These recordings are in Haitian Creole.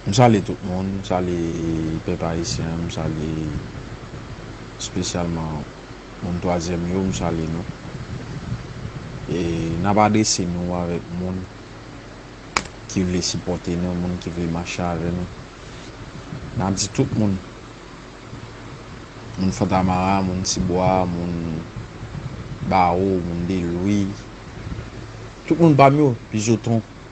M salye tout moun, m salye pèp ayisyen an, m salye espesyalman moun twazyèm yo, m salye nou. E n ap adrese nou avèk moun ki vle sipòte nou, moun ki vle mache avè nou. N ap di tout moun, moun Fontamara, moun Tibwa, moun Bawo, moun Delwi, tout moun pa m yo, Bizoton,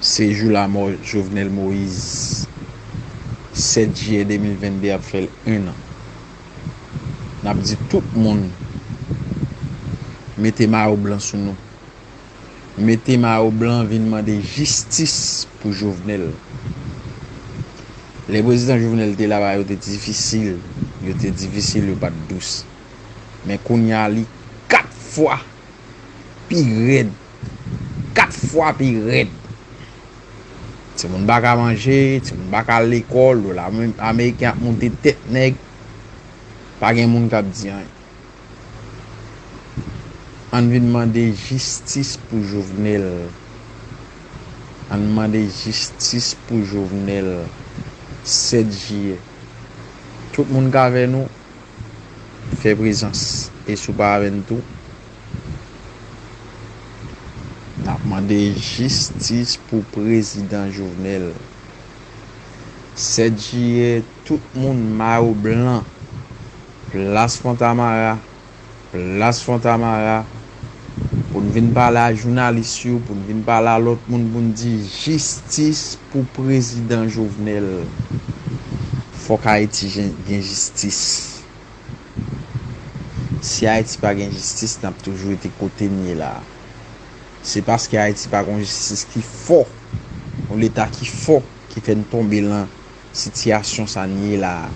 Se jou lamò Jovenel Moïse 7 jiyè 2022 ap fè 1 an. N ap di tout moun mete mayo blan sou nou. Mete mayo blan vin mande jistis pou Jovenel. Lè prezidan Jovenel te la bagay yo te difisil, yo te difisil yo pa t dous. Men kounya li 4 fwa. Pi rèd. 4 fwa pi rèd. Timoun pa ka manje, timoun pa ka al lekòl, dola ameriken ap moute tèt nèg. Pa gen moun k ap di anyen. An n vin mande jistis pou Jovenel. An n mande jistis pou Jovenel. 7 jiyè. Tout moun k avè nou. Fè prezans e sou pa avè n tou. Nap mande jistis pou prezidan Jovenel. 7 jiyè tout moun mayo blan plas fontamara. Plas Fontamara pou n vin pale a jounalis yo, pou n vin pale a lòt moun pou n di jistis pou prezidan Jovenel. Fòk Ayiti gen jistis. Si Ayiti pa gen jistis, n ap toujou rete kote n ye la a. Se paske Ayiti pa gen yon jistis ki fò, yon leta ki fò ki fè n tonbe lan. Sitiyasyon sa n ye la a.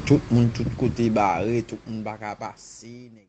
Tout moun tout kote bare, tout moun pa ka pase.